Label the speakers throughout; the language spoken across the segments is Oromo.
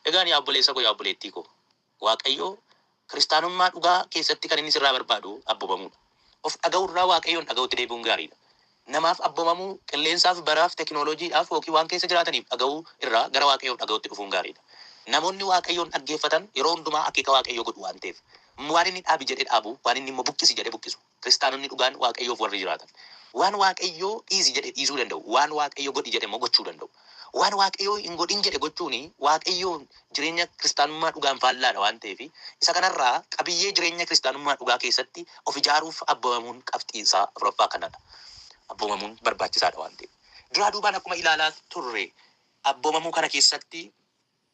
Speaker 1: Egaan yaa obboleessa koo yaa obboleettii koo Waaqayyo kiristaanummaa dhugaa keessatti kan inni sirraa barbaadu abbomamuudha. Of dhaga'uu irraa Waaqayyoon dhaga'utti deebi'uun gaariidha. Namaaf abbomamuu, qilleensaaf, baraaf, tekinooloojiidhaaf ykn waan keessa jiraataniif dhaga'uu irraa gara Waaqayyoof dhaga'utti dhufuun gaariidha. Namoonni Waaqayyoon dhaggeeffatan yeroo hundumaa akeeka Waaqayyoo godhu waan ta'eef. Waan inni dhaabi jedhe dhaabu, waan inni immoo buqqisi jedhe buqqisu. Kiristaanonni dhugaan Waaqayyoof warri jiraatan, waan Waaqayyo dhiisi jedhe dhiisuu danda'u, waan Waaqayyo godhi jedhe immoo gochuu danda'u. Waan Waaqayyo hin godhin jedhe gochuun Waaqayyoon jireenya Kiristaanummaa dhugaan faallaadha waan ta'eef, isa kanarraa qabiyyee jireenya Kiristaanummaa dhugaa keessatti of ijaaruuf abboomamuun qabxii isaa afuraffaa kanadha. Abboomamuun barbaachisaadha waan ta'eef. Duraa duubaan akkuma ilaalaa turre abboomamuu kana keessatti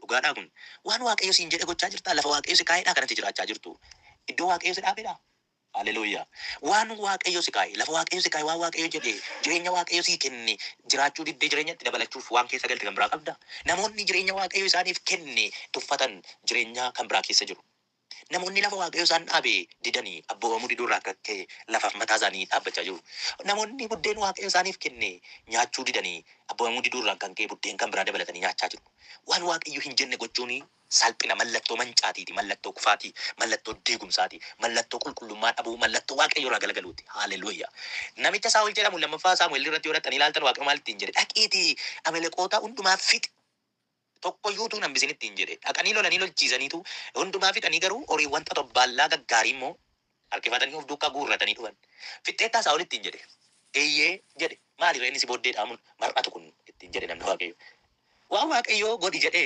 Speaker 1: Dhugaadhaa kun? Waan Waaqayyo siin jedhe gochaa jirtaa? Lafa Waaqayyo si kaa'edhaa kanatti jiraachaa jirtuu? Iddoo Waaqayyo si dhaabedhaa? Haleluuyaa! Waan Waaqayyo si kaa'e, lafa Waaqayyo si kaa'e, waan Waaqayyo jedhe, jireenya Waaqayyo sii kenne jiraachuu diddee jireenyatti dabalachuuf waan keessa galte kan biraa qabdaa? Namoonni jireenya Waaqayyo isaaniif kenne tuffatan jireenyaa kan biraa keessa jiru. Namoonni lafa Waaqayyo isaan dhaabe didanii abboomamuu diduu irraa kan ka'e lafaaf mataa isaanii dhaabbachaa jiru. Namoonni buddeen Waaqayyo isaaniif kenne nyaachuu didanii abboomamuu diduu irraan kan ka'e buddeen kan biraa dabalatanii nyaachaa jiru. Waan Waaqayyo hin jenne gochuun salphina, mallattoo mancaatiiti, mallattoo kufaatii, mallattoo diigumsaati, mallattoo qulqullummaa dhabuu, mallattoo Waaqayyo irraa galagaluuti. Haaleluyyaa! Namicha Saa'ol jedhamu 2ffaa Saamu'el irratti yoo dhaqxanii ilaaltan Waaqayyo maal ittiin jedhe? Dhaqiitii Ameleqoota hundumaa fixi! tokko iyyuu utuu hin hambisin ittiin jedhe. Dhaqanii lolanii lolchiisaniitu hundumaa fixanii garuu horiiwwan xotobbaallaa gaggaarii immoo harkifatanii of duukaa guurratanii dhufan. Fixxeettaa Saa'ol ittiin jedhe. Eeyyee jedhe. Maali ree inni si booddee dhaamuun mar'atu kun? ittiin jedhe namni Waaqayyoo. Waan Waaqayyoo godhi jedhe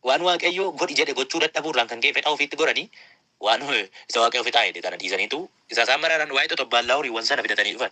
Speaker 1: waan Waaqayyoo godhi jedhe gochuu dadhabuu irraan kan ka'e fedha ofiitti goranii waan isa Waaqayyoo fixaa jedhe kana dhiisaniitu isa isaan maraaran waa'ee xotobbaallaa horiiwwan sana fidatanii dhufan.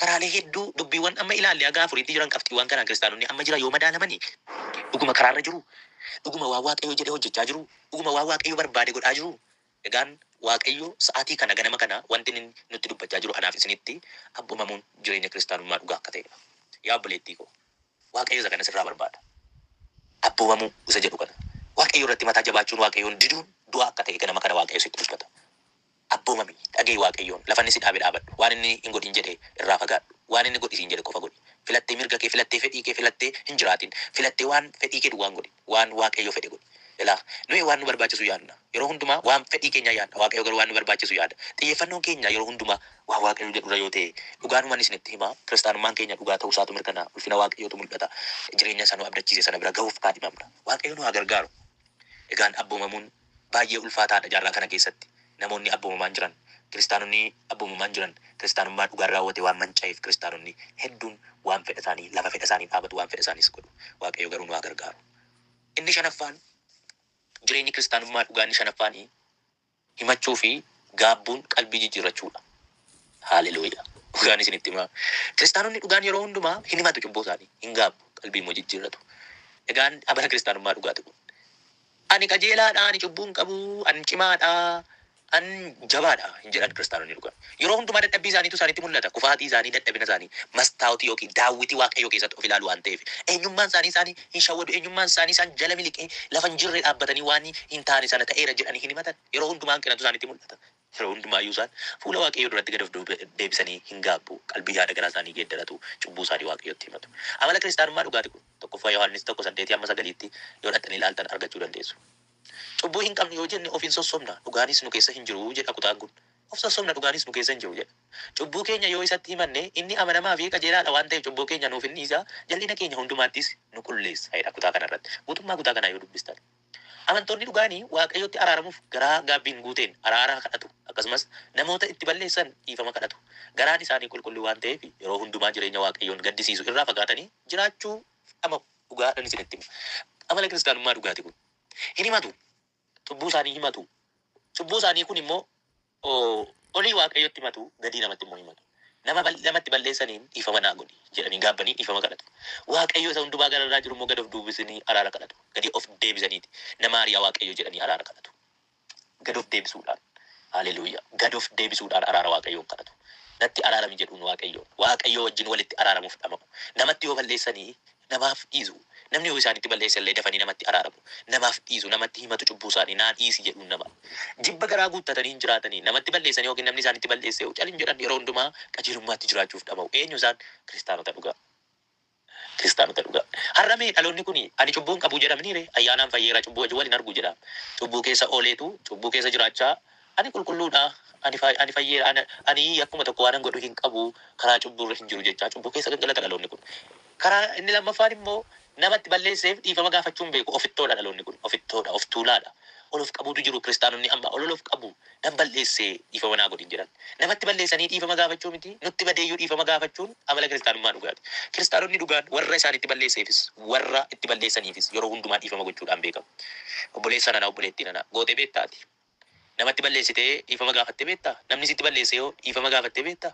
Speaker 1: Karaalee hedduu dubbiiwwan amma ilaalle haga afuriitti jiran qabxiiwwaan kanaan kiristaanonni amma jiran yoo madaalamani, dhuguma karaa irra jiruu? Dhuguma waan Waaqayyo jedhe hojjechaa jiruu? Dhuguma waan Waaqayyo barbaade godhaa jiruu? Egaan Waaqayyo sa'atii kana ganama kana wanti inni nutti dubbachaa jiru anaaf isinitti abbomamuun jireenya kiristaanummaa dhugaa akka ta'e dha. Yaa obboleettii koo! Waaqayyo isa kana sirraa barbaada. Abboomamuu isa jedhu kana. Waaqayyo irratti mataa jabaachuun Waaqayyoon diduun du'a akka ta'e ganama kana Waaqayyo sitti dubbata. Abboomami, dhaga'i Waaqayyoon, lafa inni si dhaabe dhaabadhu, waan inni hin godhin jedhe irraa fagaadhu, waan inni godhi siin jedhe qofa godhi. Filattee mirga kee, filattee fedhii kee filattee hin jiraatin, filattee waan fedhii kee duwwaa hin godhin, waan Waaqayyo fedhe godhi. Ilaa, nuyi waan nu barbaachisu yaadna, yeroo hundumaa waan fedhii keenyaa yaadna, Waaqayyo garuu waan nu barbaachisu yaada. Xiyyeeffannoon keenya yeroo hundumaa waan Waaqayyo jedhu irra yoo ta'e, dhugaanuman isinitti hima, Kiristaanummaan keenya dhugaa ta'uu isaatu mirkanaa'a, ulfina Waaqayyootu mul'ata, jireenya isa nu abdachiise sana bira gahuuf kaadhimamna. Waaqayyo nu haa gargaaru! Egaan abboomamuun baay'ee ulfaataa dha. Jaarraa kana keessatti namoonni abboomamaan jiran, Kiristaanonni abboomamaan jiran Kiristaanummaa dhugaan raawwate waan manca'eef Kiristaanonni hedduun waan fedha isaanii lafa fedha isaaniin dhaabatu, waan fedha isaaniis godhu. Waaqayyo garuu nu haa gargaaru. Inni shanaffaan, jireenyi Kiristaanummaa dhugaa inni shanaffaan himachuu fi gaabbuun qalbii jijjiirrachuu dha. Haaleluyyaa! Dhugaan isinitti himaa, Kiristaanonni dhugaan yeroo hundumaa hin himatu cubbuu isaanii, hin gaabbu, qalbii immoo jijjiirratu. Egaan amala Kiristaanummaa dhugaa ti kun. Ani qajeelaa dha, ani cubbuu hin qabu, an cimaa dha, an jabaa dha hin jedhan Kiristaanonni dhugaan. Yeroo hundumaa dadhabbii isaaniitu isaanitti mul'ata, kufaatii isaanii, dadhabina isaanii mastaawotii ykn daawwitii Waaqayyoo keessatti of ilaalu waan ta'eef. Eenyummaan isaanii isaan hin shawwadu, eenyummaan isaanii isaan jala miliqee lafa hin jirre dhaabbatanii waan hin taane sana ta'eera jedhanii hin himatan. Yeroo hundumaa hanqinatu isaanitti mul'ata. Yeroo hundumaa iyyuu isaan fuula Waaqayyoo duratti gad of deebisanii hin gaabbu, qalbii yaada garaa isaanii geeddaratu, cubbuu isaanii Waaqayyotti himatu. Amala kiristaanummaa dhugaati kun. 1ffaa Yohaannis 1, 8-9tti yoo dhaqxanii ilaaltan argachuu dandeessu. Cubbuu hin qabnu yoo jenne of in sossobna, dhugaanis nu keessa hin jiru jedha kutaan kun. Of sossobna, dhugaanis nu keessa hin jiru jedha. Cubbuu keenya yoo isatti himanne, inni amanamaa fi qajeelaa dha waan ta'eef cubbuu keenya nuuf in dhiisa, jal'ina keenya hundumaattis nu qulleessa jedha kutaa kana irratti. Guutummaa kutaa kanaa yoo dubbistan. Amantoonni dhugaan Waaqayyotti araaramuuf garaa gaabbiin guuteen araara kadhatu, akkasumas namoota itti balleessan dhiifama kadhatu. Garaan isaanii qulqulluu waan ta'eef yeroo hundumaa jireenya Waaqayyoon gaddisiisu irraa fagaatanii jiraachuu dhama'u. Dhugaadhan isinitti hima, amala Kiristaanummaa dhugaati kun. Hin himatu. Cubbuu isaanii himatu. Cubbuu isaanii kun immoo O olii Waaqayyotti himatu, gadii namatti immoo himatu. Nama bal, namatti balleessaniin dhiifama naa godhi jedhanii gaabbanii dhiifama kadhatu. Waaqayyo isa hundumaa gara irraa jiru immoo gad of duubisnii araara kadhatu. Gadi of deebisaniiti na maari yaa Waaqayyo jedhanii araara kadhatu. Gad of deebisuudhaan. Haleluuyaa! Gad of deebisuudhaan araara Waaqayyoon kadhatu. Natti araarami jedhuun Waaqayyoon. Waaqayyoo wajjin walitti araaramuuf dhama'u. Namatti yoo balleessanii namaaf dhiisu. Namni yoo isaanitti balleesse illee dafanii namatti araaramu. Namaaf dhiisu, namatti himatu cubbuu isaanii, naa dhiisi jedhuun nama. Jibba garaa guuttatanii hin jiraatani. Namatti balleessanii ykn namni isaanitti balleesse yoo cal hin jedhan yeroo hundumaa qajeelummaatti jiraachuuf dhama'u. Eenyu isaan? Kiristaanota dhugaa. Kiristaanota dhugaa. Har'a mee dhaloonni kuni ani cubbuu hin qabu jedha miniiree? Ayyaanaan fayyeera cubbuu wajjin wal hin argu jedha. Cubbuu keessa ooleetu, cubbuu keessa jiraachaa Ani qulqulluu dha, ani, ani fayyeera, ani, ani yakkuma tokko waanan godhu hin qabu, karaa cubbuu irra hin jiru jechaa cubbuu keessa gangalata dhaloonni kun. Karaa inni lammaffaan immoo nama itti balleesseef dhiifama gaafachuu hin beeku, ofittoo dha dhaloonni kun, ofittoo dha, of tuulaa dha. Ol of qabuutu jiru, kiristaanonni amma ol ol of qabu, nan balleesse dhiifama naa godhi hin jedhan. Namatti balleessanii dhiifama gaafachuu miti, nutti badee iyyuu dhiifama gaafachuun amala kiristaanummaa dhugaati. Kiristaanonni dhugaan warra isaanitti balleesseefis, warra itti balleessaniifis yeroo hundumaa dhiifama gochuudhaan beekamu. Obboleessa nana, obboleettii nana, gootee beektaa ati? Namatti balleessitee dhiifama gaafattee beektaa? Namni sitti balleesse hoo dhiifama gaafattee beektaa?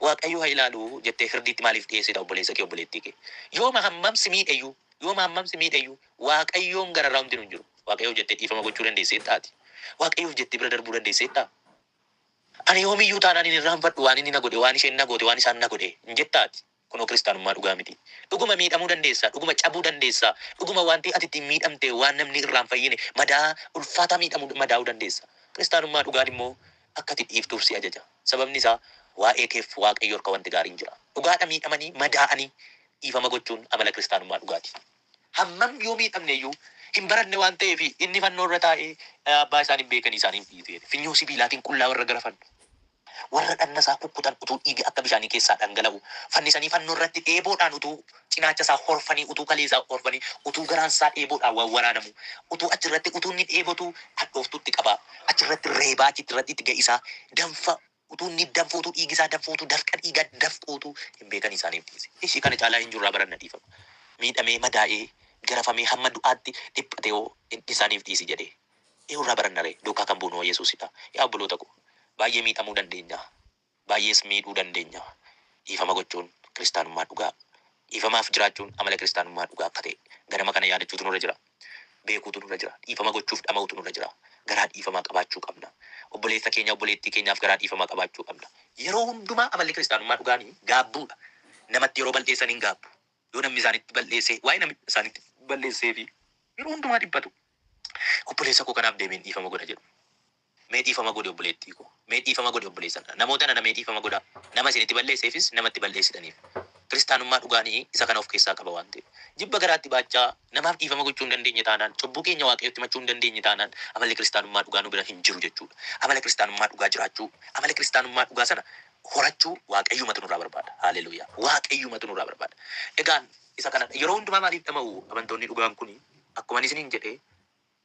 Speaker 1: Waaqayyo ha ilaalu jettee firdiitti maaliif dhiheessita obboleessa kee obboleettii kee? Yooma hammam si miidhe iyyuu yooma hammam si miidhe iyyuu Waaqayyoon gararraa homti nu hin jiru. Waaqayyoof jettee dhiifama gochuu dandeesseetta ati? Waaqayyoof jettee bira darbuu dandeesseettaa? Ani yoomiyyuu taanaan hin irraanfadhu waan inni na godhe, waan isheen na goote, waan isaan na godhe hin jettaa ati? Kunoo kiristaanummaa dhugaa miti. Dhuguma miidhamuu dandeessa, dhuguma cabuu dandeessa, dhuguma wanti ati ittiin miidhamte waan namni irraa hin fayyine, madaa ulfaataa miidhamuu, madaa'uu dandeessa. Kiristaanummaa dhugaan immoo akka ati dhiiftuuf si ajaja. Sababni isaa waa'ee keef Waaqayyo harka wanti gaariin jira. Dhugaadha miidhamanii, madaa'anii dhiifama gochuun amala kiristaanummaa dhugaati. Hammam yoo miidhamne iyyuu hin baranne waan ta'eef inni fannoo irra taa'ee Abbaa isaan hin beekanii isaanii hin dhiisu jedhe. Finyoo sibiilaatiin qullaa warra garafan, warra dhagna isaa kukkutan utuu dhiigi akka bishaanii keessaa dhangala'uu, fannisanii fannoo irratti eeboodhaan utuu cinaacha isaa horfanii, utuu kalee isaa horfanii, utuu garaan isaa eeboodhaan wawwaraanamuu, utuu achi irratti utuu inni dheebotuu hadhooftuutti qabaa, achi irratti reebaa achitti irratti itti ga'isaa, danfa Utuu inni danfootuu dhiigi isaa danfootuu dafqa dhiiga dafqootuu hin beekan isaaniif dhiise. Ishii kana caalaa eenyu irraa baranna dhiifama? Miidhamee, madaa'ee, garafamee hamma du'aatti dhiphate hoo isaaniif dhiisi jedhee eenyu irraa baranna ree? Duukaa kan buunu hoo Yesuus dha. Yaa obboloota koo, baay'ee miidhamuu dandeenya, baay'ees miidhuu dandeenya. Dhiifama gochuun kiristaanummaa dhugaa, dhiifamaaf jiraachuun amala kiristaanummaa dhugaa akka ta'e ganama kana yaadachuutu nurra jira. beekuutu nurra jira. Dhiifama gochuuf dhama'uutu nurra jira. Garaa dhiifamaa qabaachuu qabna. Obboleessa keenya, obboleettii keenyaaf garaa dhiifamaa qabaachuu qabna. Yeroo hundumaa amalli kiristaanummaa dhugaan gaabbuudha. Namatti yeroo bal'eessan hin gaabbu. Yoo namni isaanitti bal'eesse, waa'ee namni isaanitti bal'eesseefi yeroo hundumaa dhiphatu. Obboleessa koo kanaaf deebiin dhiifama godha jedhu. Mee dhiifama godhi obboleettii koo. Mee dhiifama godhi obboleessa nana. Namoota nana mee dhiifama godhaa. Nama isin itti balleesseefis nama itti balleessitaniif. Kiristaanummaa dhugaan isa kana of keessaa qaba waan ta'eef. Jibba garaatti baachaa namaaf dhiifama gochuu hin dandeenye taanaan, cubbuu keenya Waaqayyotti himachuu hin dandeenye taanaan amalli Kiristaanummaa dhugaa nu bira hin jiru jechuudha. Amala Kiristaanummaa dhugaa jiraachuu, amala Kiristaanummaa dhugaa sana horachuu Waaqayyumatu nurraa barbaada. Haaleluyyaa! Waaqayyumatu nurraa barbaada. Egaan isa kanadha. Yeroo hundumaa maaliif dhama'u amantoonni dhugaan kuni? Akkuman isiniin jedhe,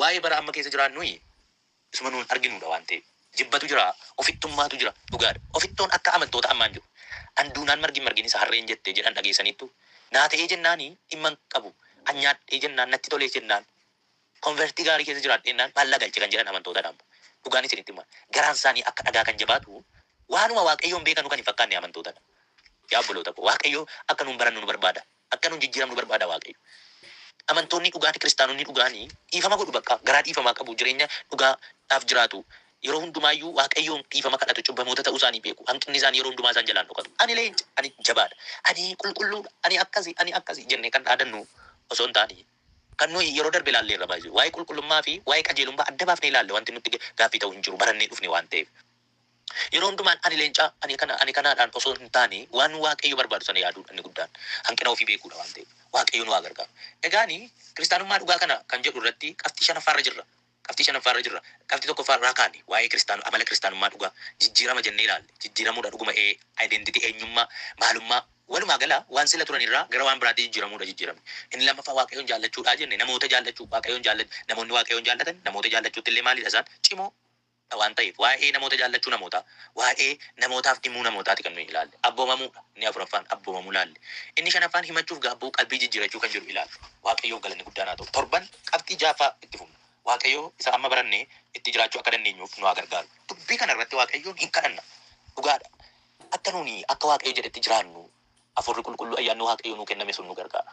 Speaker 1: Waa'ee bara amma keessa jiraannui isuma nuun arginuudha waan ta'eef. Jibbatu jira, ofittummaatu jira. Dhugaadha. Ofittoon akka amantoota ammaa hin jiru. An duunaan margi hin margin isa harreen jette jedhan dhageessaniittuu? Naa ta'ee jennaani dhimma hin qabu, an nyaadhee jennaan, natti tolee jennaan, konvertii gaarii keessa jiraadheennaan faallaa galche kan jedhan amantootadha ammo. Dhugaan isinitti hima. Garaan isaanii akka dhagaa kan jabaatu waanuma Waaqayyoon beekanu kan hin fakkaanne amantootadha. Yaa obboloota koo Waaqayyo akka nuun barannu nu barbaada. Akka nun jijjiramnu barbaada Waaqayyo. Amantoonni dhugaati kiristaanonni dhugaani dhiifama godhu bakka. Garaa dhiifamaa qabu, jireenya dhugaa dhaaf jiraatu. Yeroo hundumaa iyyuu Waaqayyoon dhiifama kadhatu, cubbamoota ta'uu isaanii beeku. Hanqinni isaanii yeroo hundumaa isaan jalaa hin dhokatu. Ani leenca, ani jabaa dha, ani qulqulluu dha, ani akkasi, ani akkasi jennee kan dhaadannu osoo hin taane, kan nuyi yeroo darbe ilaalleerra by the way waa'ee qulqullummaa fi waa'ee qajeelummaa adda baafnee ilaalle wanti nutti gaaffii ta'u hin jiru, barannee dhufne waan ta'eef. Yeroo hundumaan ani leencaa, ani kana, ani kanaadhaan osoo hin taane waan Waaqayyo barbaadu sana yaaduudha inni guddaan. Hanqina ofii beekuudha waan ta'eef. Waaqayyo nu haa gargaaru. Egaani kiristaanummaa dhugaa kana kan jedhu irratti qabxii shanaffaa irra jirra. Qabxii shanaffaa irra jirra. Qabxii tokkoffaa irraa kaane waa'ee kiristaanu, amala kiristaanummaa dhugaa, jijjiirama jennee ilaalle. Jijjiiramuudha dhuguma ee, identity, eenyummaa, maalummaa. Walumaa gala waan sila turan irraa gara waan biraatti jijjiiramuudha jijjiiramni. Inni lammaffaa Waaqayyoon jaallachuudhaa jenne, namoota jaallachuu, Waaqayyoon jaallachuu. Namoonni Waaqayyoon jaallatan namoota jaallachuutti illee maaliidha isaan? Cimoo. dha waan ta'eef waa'ee namoota jaallachuu namootaa, waa'ee namootaaf dhimuu namootaati kan nuyi ilaalle. Abboomamuu dha inni afuraffaan, abboomamuu ilaalle. Inni shanaffaan himachuuf gaabbuu, qalbii jijjiirachuu kan jedhu ilaalle. Waaqayyoof galanni guddaan haa ta'u. Torban qabxii ja'affaa itti fufna. Waaqayyo isa amma baranne itti jiraachuu akka dandeenyuuf nu haa gargaaru. Dubbii kana irratti Waaqayyoon hin kadhanna. Dhugaa dha, akka nuuni akka Waaqayyo jedhetti jiraannu Hafuurri Qulqulluu, Ayyaanni Waaqayyoo nuu kenname sun nu gargaara.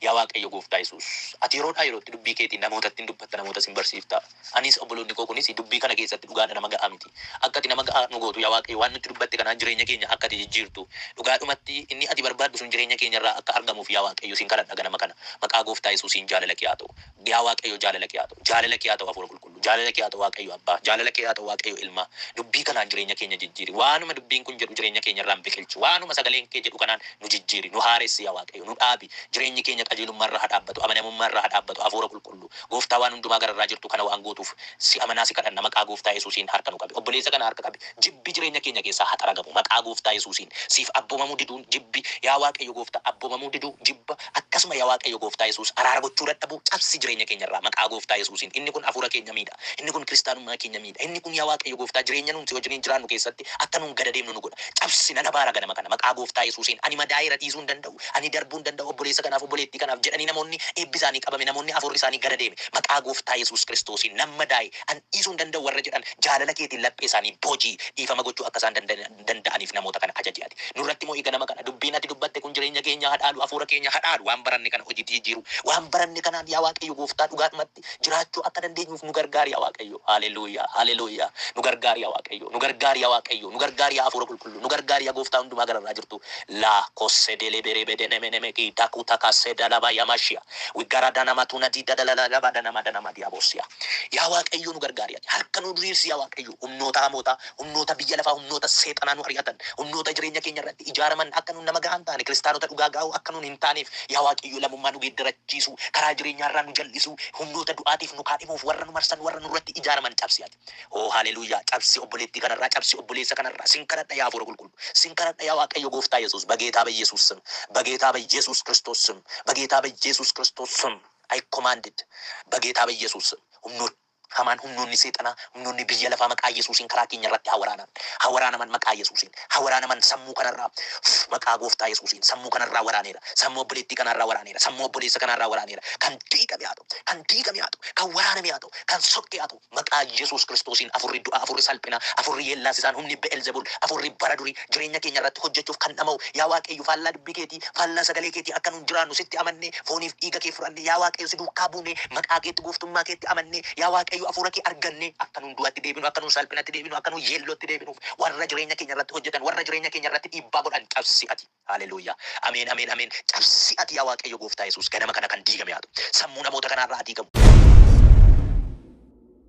Speaker 1: Yaa Waaqayyo Gooftaa Yesuus, ati yeroodhaa yerootti dubbii keetiin namootatti in dubbatta, namootas in barsiifta. Anis, obboloonni koo kunis dubbii kana keessatti dhugaa dha, nama ga'aa miti. Akka ati nama ga'aa nu gootu, yaa Waaqayyo, waan nutti dubbatte kanaan jireenya keenya akka ati jijjiirtu, dhugaadhumatti inni ati barbaaddu sun jireenya keenya irraa akka argamuuf, yaa Waaqayyo, sin kadhadha ganama kana. Maqaa Gooftaa Yesuusiin jaalalakee haa ta'u. Yaa Waaqayyo jaalala kee haa ta'u. Jaalala kee haa ta'u Hafuura Qulqulluu. Jaalala kee haa ta'u Waaqayyo Abbaa. Jaalala kee haa ta'u Waaqayyo Ilmaa. Dubbii kanaan jireenya keenya jijjiiri. Waanuma dubbiin kun jedhu jireenya keenya irraan biqilchi. Waanuma sagaleen kee jedhu kanaan nu jijjiiri. Nu haaressi yaa Waaqayyo. Nu dhaabi. Jireenyi keenya qajeelummaa irra haa dhaabbatu. Amanamummaa irra haa dhaabbatu. Hafuura Qulqulluu. Gooftaa waan hundumaa gararraa jirtu kana waan gootuuf si amanaa si kadhanna. Maqaa Gooftaa Yesuusiin harka nu qabi. Obboleessa kana harka qabi. Jibbi jireenya keenya keessaa haa xaragamu. Maqaa Gooftaa Yesuusiin. Siif abboomamuu diduun jibbi. Yaa Waaqayyo Gooftaa abboomamuu diduu, jibba, Akkasuma ya Waaqayyo gooftaa Yesuus araara gochuu dadhabuu cabsi jireenya keenya irraa maqaa gooftaa Yesuusiin inni kun afuura keenya miidha inni kun kiristaanummaa keenya miidha inni kun ya Waaqayyo gooftaa jireenya nuun si wajiniin jiraannu keessatti akka nuun gada deemnu nu godha cabsi nan abaara ganama kana maqaa gooftaa Yesuusiin ani madaa'eera dhiisuu hin danda'u ani darbuu hin danda'u obboleessa kanaaf obboleettii kanaaf jedhanii namoonni eebbi isaanii qabame namoonni afuurri isaanii gada deeme maqaa gooftaa Yesuus kiristoosiin nan madaa'e an dhiisuu hin danda'u warra jedhan jaalala keetiin laphee isaanii boojii dhiifama gochuu akka isaan danda'an danda'aniif namoota kana ajaji ati. Nurratti mo'i ganama kana. Dubbiin ati dubbatte kun jireenya keenya ha dhaalu, hafuura keenya ha dhaalu. Waan baranne kana hojiitti jijjiiruu. Waan baranne kanaan yaa Waaqayyo gooftaa dhugaadhumatti jiraachuu akka dandeenyuuf nu gargaari yaa Waaqayyo. Haaleluyyaa! Haaleluyyaa! Nu gargaari yaa Waaqayyo. Nu gargaari yaa Waaqayyo. Nu gargaari yaa Hafuura Qulqulluu. Nu gargaari yaa Gooftaa Hundumaa Gararraa Jirtuu. La kosse dele bere bede neme neme ki daku takase dalaba yamashia. Wiggara danama tuna di dadalala laba danama danama diabosia. Yaa Waaqayyo nu gargaari ati. Harka nu diriirsi yaa Waaqayyo. Humnoota hamootaa, Humnoota biyya lafaa, humnoota seexanaa nu ari'atan, humnoota jireenya keenya irratti ijaaraman akka nuun nama gahaa hin taane, kiristaanota dhugaa gaa'oo akka nuun hin taaneef, yaa Waaqayyoo lammummaa nu geeddarachiisuu, karaa jireenyaa irraa nu jal'isuu, humnoota du'aatiif nu kaadhimuuf warra nu marsan, warra nurratti ijaaraman cabsi ati. Oo Haleluuyaa! Cabsi obboleettii kana irraa, cabsi obboleessa kana irraa. Sin kadhadha yaa Hafuura Qulqulluu. Sin kadhadha yaa Waaqayyo Gooftaa Yesuus, Bageetaa Bayyesuus sm, Bageetaa Bayyesuus Kiristoos sm, Bageetaa Bayyesuus Kiristoos sm, I command it, Bageetaa Bayyesuus sm, humnoota. Hamaan humnoonni seexanaa humnoonni biyya lafaa maqaa yesuusiin karaa keenya irratti haa waraanan haa waraanaman maqaa yesuusiin haa waraanaman sammuu kana irraa Uuff maqaa gooftaa yesuusiin sammuu kana irraa waraaneera sammuu obboleettii kanaa irraa waraaneera sammuu obboleessa kanaa irraa waraaneera kan diigame haa ta'u kan diigame haa ta'u kan waraaname haa ta'u kan sokke haa ta'u maqaa yesuus kiristoosiin afurri du'aa afurri salphinaa afurri yeellaasisaan humni be'elzebul afurri bara durii jireenya keenya irratti hojjechuuf kan dhama'u yaa waaqayyo faallaa dubbii keetii Waaqni, faallaa sagalee keetii akka nuun jiraannu sitti amannee, fooniif dhiiga kee fudhannee, yaa Waaqayyo si duukaa buunee, maqaa keetti, gooftummaa keetti amannee, yaa Waaqayyo hafuura kee argannee, akka nuun du'atti deebinu, akka nuun salphinatti deebinu, akka nuun yeellootti deebinuuf, warra jireenya keenya irratti hojjetan, warra jireenya keenya irratti dhiibbaa godhan cabsi ati. Haleluuyaa! Ameen, ameen, ameen! Cabsi ati yaa Waaqayyo Gooftaa Yesuus, ganama kana kan diigame haa ta'u. Sammuu namoota kanaa irraa haa diigamu.